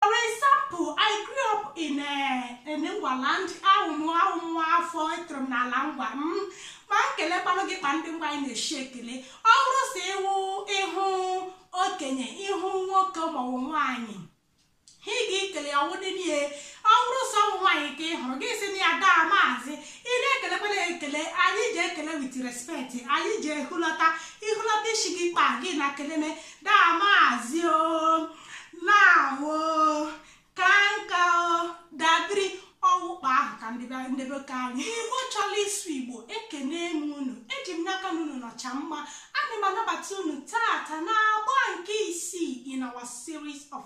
For example, I grew up in a eh, in Ngwaland awụ m nwa afọ etoro m n'ala ngwa m mm, ma nkele kpalụ gị kpa ndị ngwa anyị na-eshi ekele ọ wụrụ si ịwụ ị hụ okenye ị hụ nwoke ma ọ wụ nwaanyị ha ị ga-ekele ya ọ wụ dị n'ihe ọ wụrụ si ọ wụ nwaanyị ka ị hụrụ gị si na ya daa maazị ị na-ekelekwala ekele anyị ji ekele with respect anyị ji ehulata i hulata isi gị kpa gị na keleme daa maazị o lawo kaa nka o dabiri ọ wụ kpa ahụ ka nde be nde be ka anyị igbo chọrọ ịsụ igbo ekenee m unu eji m n'aka na unu nọcha mma ana m anabata unu taata n'agba nke isii in our series of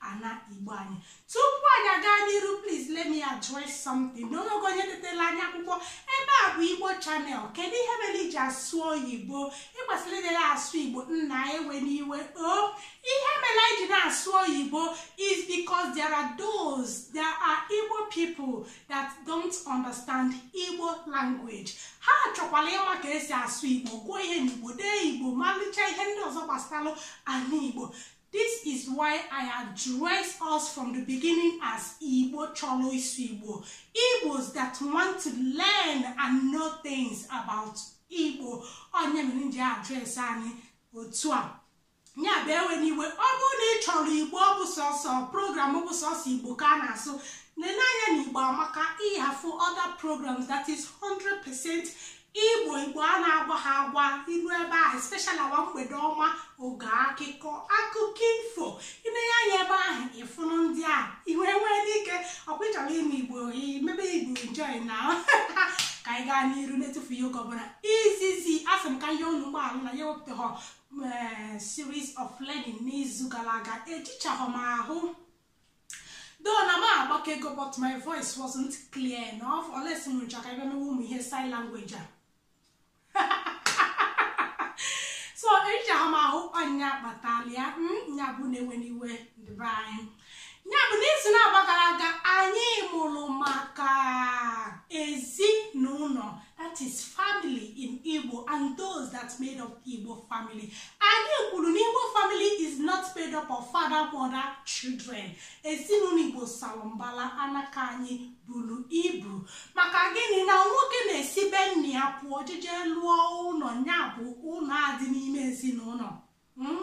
ana igbo anyị tupu anyị aga n'iru please let me address something na o nwego onye detela anyị akwụkwọ ebe a bụ igbo channel kedu ihe mere i ji asụ oyibo ị kwesịrị ịdị na-asụ igbo nna ewena iwe o oh, ihe mere anyị ji na-asụ oyibo is because there are those there are igbo people that don't understand igbo language ha chọkwara ịma ka e si asụ igbo gụọ ihe n'igbo dee igbo malụcha ihe ndị ọzọ gbasara ana igbo This is why I address us from the beginning as Igbo chọrọ ịsụ Igbo. Igbos that want to learn and know things about Igbo. Ọ nya mere m ji address anyị otu a. Nya bụ ewena iwe ọ bụrụ na ị chọrọ Igbo ọ bụ sọsọ program bụ sọsọ Igbo ka a na-asụ nenee anya n'Igbo Amaka ị ga-afụ other programs that is 100% igbo igbo a na-agwaghọ agwa i ru ebe ahụ especially our mgbede ọma oge akụkọ akụkọ ifo i nee anya ebe ahụ ị fụnụ ndị a iwe nwee n'ike ọ kwa ị chọrọ ime igbo mebe igbo enjoy ngwa ka anyị gaa n'iru na-etufughị oge ọbụla izizi asị m ka m yọọ unu mgbaghala na anyị ewepụtaghọ series of learning n'izu gara aga ejichaghọ m ahụ though na m agbakego but my voice wasn't clear enough unless m chọ ka a bịa mewe ụmụ ihe sign language a so ejighọ m ahụ ọ nya kpatara ya nya bụ unu ewena iwe ndị be anyị nya bụ n'izu n'agba gara aga anyị mụrụ maka ezinụnọ that is family in Igbo and those that made up Igbo family. Anyị kwuru na Igbo family is not made up of father, mother, children. Ezinụnọ Igbo salụ mbala anaka anyị buru ibu maka gịnị na nwoke na-esi be nna ya pụọ jeje lụọ ụnọ nya bụ ụnọ adị n'ime ezinụnọ. Hmm?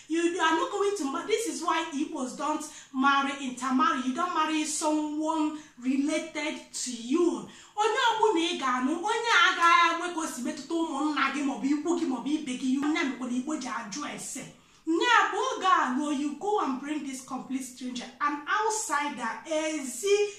you are not going to marry this is why igbos don't marry intermarry you don't marry someone related to you onye ọbụna ị ga-anụ onye a agaghị enwe ka o si metụta ụmụnna gị maọbụ ikwu gị maọbụ ibe gị ọ nya mekwara igbo ji ajụ ese ya bụ oge a you go and bring this complete stranger an outsider ezi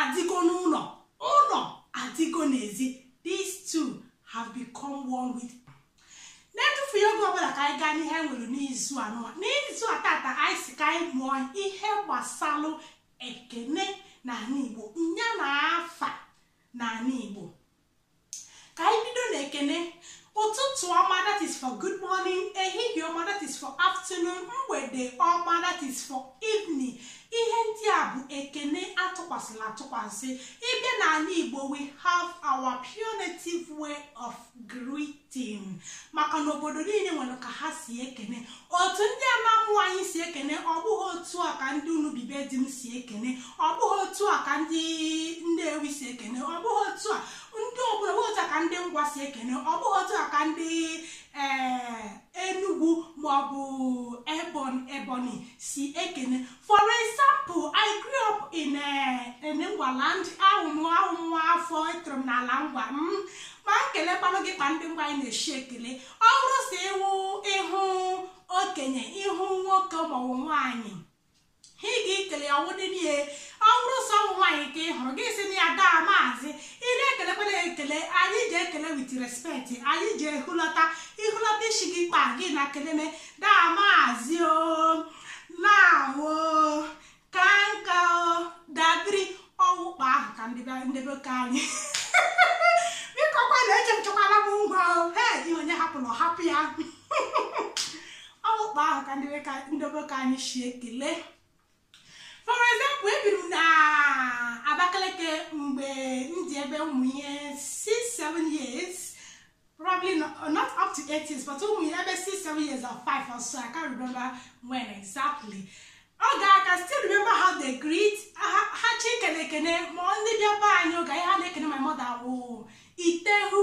adịgo n'ụlọ ụlọ adịgo n'ezi these two have become one with n'etufughị oge ọbụla ka anyị gaa n'ihe anyị nwere n'izu a nụwa n'izu a taata anyị si ka anyị mụọ ihe gbasalụ ekene n'anị igbo nya na afa n'anị igbo ka anyị bido na ekene ụtụtụ ọma that is for good morning ehihie ọma that is for afternoon mgbede ọma that is for evening ihe ndị a bụ ekene a tụkwasịlụ atụkwasị ị bịa n'anị igbo we have our pure native way of greeting ting maka na obodo niile nwere ka ha si ekene otu ndị anam anyị si ekene ọ bụghị otu a ka ndị unubi be di m si ekene ọ bụghị otu a ka ndị nnewi si ekene ọ bụghị otu a ndị obodo otu a ka ndị ngwa si ekene ọ bụghị otu a ka ndị ee eh, enugwu maọbụ ebon ebonyi si ekene For example, I grew up in a eh, in Ngwaland ahụmụ ahụmụ afọ etoro m n'ala ngwa m mm, ma m kelekwanụ gị kpa ndị ngwa anyị na-eshi ekele ọ bụrụ sị ị wụ ị hụ okenye ị hụ nwoke maọbụ nwaanyị ha ị ga-ekele ya wụdị n'ihe ọ bụrụ sọ ụmụ nwaanyị ka ị hụrụ gị sị ya daa maazị ị na-ekelekwana ekele anyị ji ekele with respect anyị ji ehulata ihulata isi gị kpa gị na keleme daa maazị o nawo kaa nka o dabiri ọ wụ kpa ahụ ka nde be nde be ka anyị bikokwa na eche nchekwala m ngwa o he ihe onye hapụrụ ọ hapụ ya ọ wụ kpa ahụ ka nde be ka nde be ka anyị si ekele for example ebiri m na abakaliki mgbe m dị ebe ụmụ ihe 6-7 years probably not, not up to 8 years but ụmụ ihe ebe 6-7 years or 5 or so i can't remember when exactly okay i can still remember how they greet ha ha shi ekele ekene ma ndị bịa be anyị oge ahụ ha na-ekene my mother wụ i tehu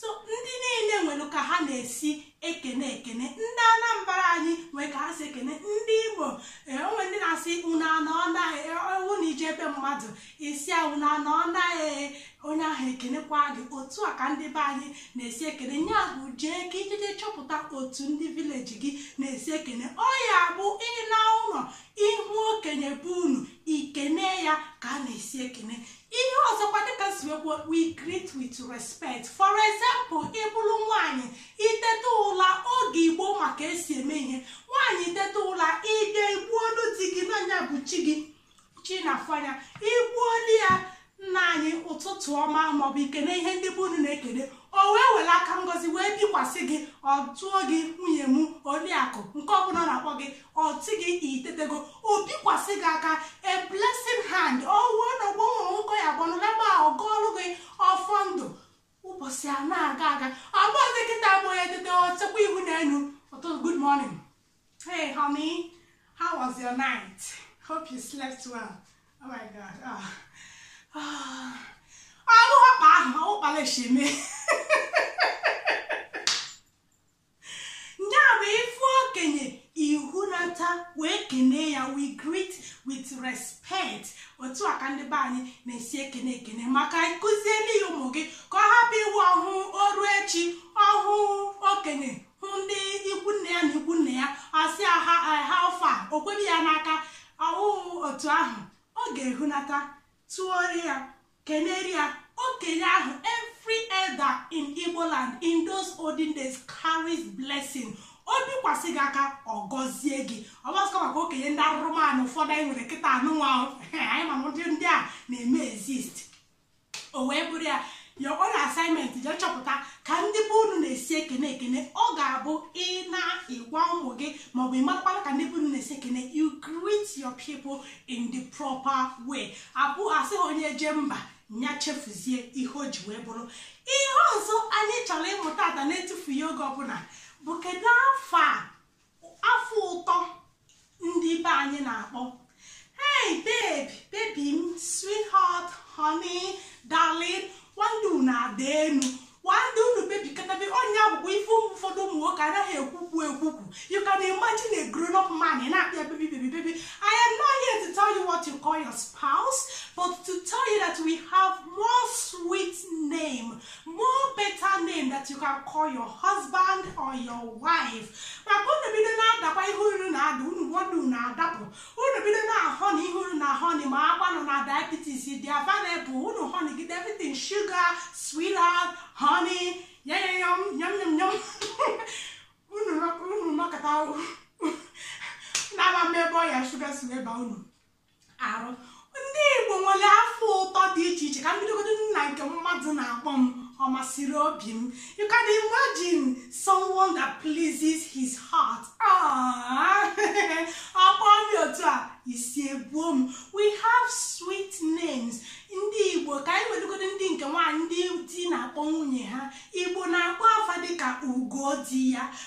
so ndị niile nwere ka ha na-esi ekene ekene ndị anambra anyị nwee ka ha si ekene ndị imo e, o nwe ndị na-asị unu anọọna e, ọ wụ na i jee ebe mmadụ ị sị ya unu anọọna e, onye ahụ ekenekwa gị otu a ka ndị be anyị na-esi ekene nya bụ jee ka i je-eje chọpụta otu ndị village gị na-esi ekene ọ ya-abụ ị naa ụlọ ị hụ okenye be unu i kenee ya ka a na-esi ekene ihe ọzọkwa dịka si wee kwuo we greet with respect for example ịbụrụ nwaanyị iteta ụla oge igbo ma ka e si eme ihe nwaanyị iteta ụla ịbịa igbuolu di gị na nya bụ chi gị chi ị na-afụ anya igbuolu ya nna anyị ụtụtụ ọma maọbụ ikene ihe ndị be unu na-ekene o wee were aka ngozi wee bikwasị gị ọ tụọ gị nwunye m oriakụ nke ọbụla ọ na-akpọ gị ọ sị gị itetego o bikwasị gị aka a blessing hand ọwụọ na ọgbọnwụ nwoke ya gbanụlaba ọ gọọrụ gị ọfọ ndụ ụbọchị a na-aga aga ọ bụzi kịta bụ onye teta o chekwa ihu n'elu ọtụ good morning hey honey how was your night hope you slept well oh my god ah ah ọrụ ọkpa ahụ ọkpala esheme ya bụ ịfụ okenye ihunata wee kenee ya we greet with respect otu a ka ndị be anyị na-esi ekene ekene maka ịkụzielu ya ụmụ gị ka ọ hapụ ịwụ ọ hụ o ru echi ọ hụ okenye hụ ndị ikwu nne ya na ikwu nna ya ọ sị ha how far o kwebe ya n'aka ọ wụhụ otu ahụ ọ ga-ehunata tụọrọ ya kenere ya okenye ahụ every elder in igbo land in those olden days carries blessing o bikwasị gị aka ọ gọzie gị ọ gbasịkwa maka okenye ndị arụrụmanụ ụfọdụ anyị nwere kịta anyịnwa anyị ma na ndị a na-eme exist o wee bụrụ ya your own assignment je chọpụta ka ndị be unu na-esi ekene ekene ọ ga-abụ ị na-agwa ụmụ gị maọbụ ịmakwara ka ndị be unu na-esi ekene you greet your people in the proper way abụ asị onye je mba ya chefuzie ihe o ji wee bụrụ ihe ọzọ anyị chọrọ ịmụta taa na-etufughị oge ọbụla bụ kedu afa afa ụtọ ndị be anyị na-akpọ hey baby baby m sweetheart honey darling one day unu ada enu one day unu bebikatabe onye akwụkwọ ife ụmụ ụfọdụ ụmụ nwoke anaghị ekwukwu ekwukwu you can imagine a grown up man ị na-akpọ ya baby baby baby I am not here to tell you what you call your spouse but to tell you that we have more sweet name more better name that you can call your husband or your wife maka unu bido na-adakwa ihe unu na-ada unu one day unu adapụ unu bido na honey ihe unu na honey makwanụ na diabetes dị available unu honey gide everything sugar sweetheart honey yayayom yom yom yom unu unu nọkata na-amaghị ebe ọya shuga si wee ba unu arụ ndị igbo nwere afa ụtọ dị iche iche ka m bidogodo na nke mmadụ na-akpọ m ọmasịrị obi m you can imagine someone that pleases his heart ọ kpọọ m otu a isi ebuo m we have sweet names ndị igbo ka anyị bidogodo ndị nke nwaanyị ndị di na-akpọ nwunye ha igbo na-akpọ afa dịka ugo di ya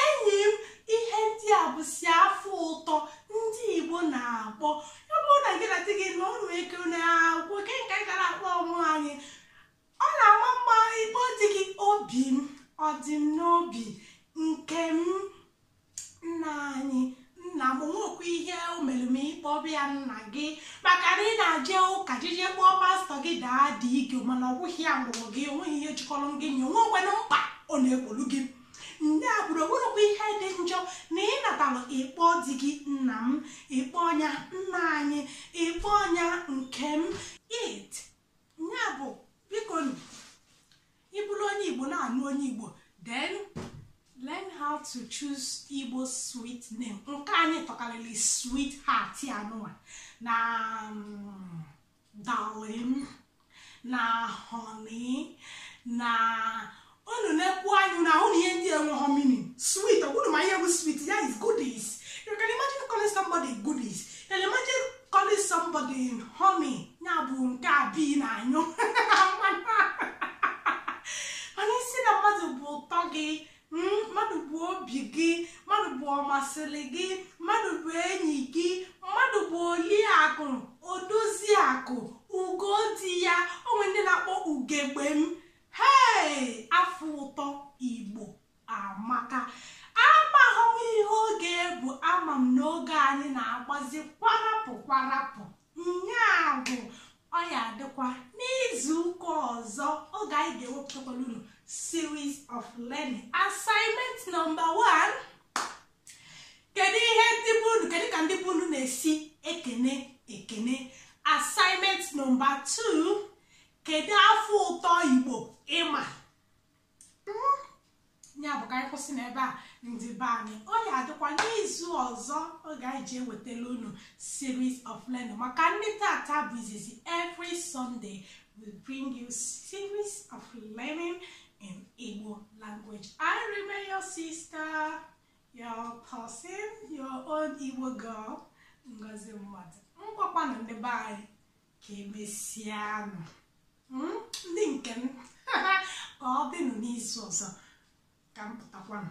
enyi m ihe ndị a bụsị afa ụtọ ndị igbo na-akpọ ọ bụrụ na gị na di gị na ụlọ eke na-agwụ ke nke gara akpọ ụmụ nwaanyị ọ na-ama mma ịkpọ di gị obi m ọ dị m n'obi nke m nna anyị nna m o nwekwa ihe o mere ma ị kpọba ya nna gị maka na ị na-aje ụka jije kpọọ pastọ gị daddy gị mana ọ bụghị ya mụrụ gị onweghị ihe jikọrọ gị na ya o nwekwanụ mkpa ọ na-egbolu gị nne a kwuru onwerekwa ihe dị njọ na ị natara ị kpọọ di gị nna m ị kpọọ nya nna anyị ị kpọọ nya nke m it ya bụ bikonụ ị bụrụ onye igbo na-anụ onye igbo then learn how to choose igbo sweet name nke anyị tọkarịrị sweetheart ya nụwa na mm, darling na honey na unu na-ekwu anyị na-ahụ na ihe ndị a enweghọ meaning sweet ọ kwa unu ma ihe bụ sweet ya is goodies you can imagine calling somebody goodies you can imagine calling somebody honey ya bụ nke a bee na-anyụ mana ị sị na mmadụ bụ ụtọ gị mm, mmadụ bụ obi gị mmadụ bụ ọmasịrị gị mmadụ bụ enyi gị mmadụ bụ oliakụ odoziakụ ugo di ya o nwee ndị na-akpọ ugegbe m hei afa ụtọ igbo amaka amaghị m ihe oge bụ ama m n'oge anyị na-agbazi kwarapụ kwarapụ nya bụ ọ ya-adịkwa n'izu ụka ọzọ oge anyị ga-ewepụtakwala unu series of learning assignment number one kedu ihe ndị be unu kedu ka ndị be unu na-esi ekene ekene assignment number two kedu afa ụtọ igbo ị ma hmm, ya bụ ka anyị kwụsị n'ebe a ndị be anyị ọ ya-adịkwa n'izu ọzọ oge anyị ji ewetala unu series of learning maka ndị tata bụ izizi every Sunday we bring you series of learning in Igbo language I remain your sister your person your own Igbo girl Ngozi Mmadụ ngwakwanụ ndị be anyị ka emesianụ hmm? ndị nke m ka ọ dịnụ n'izu ọzọ ka m pụtakwanụ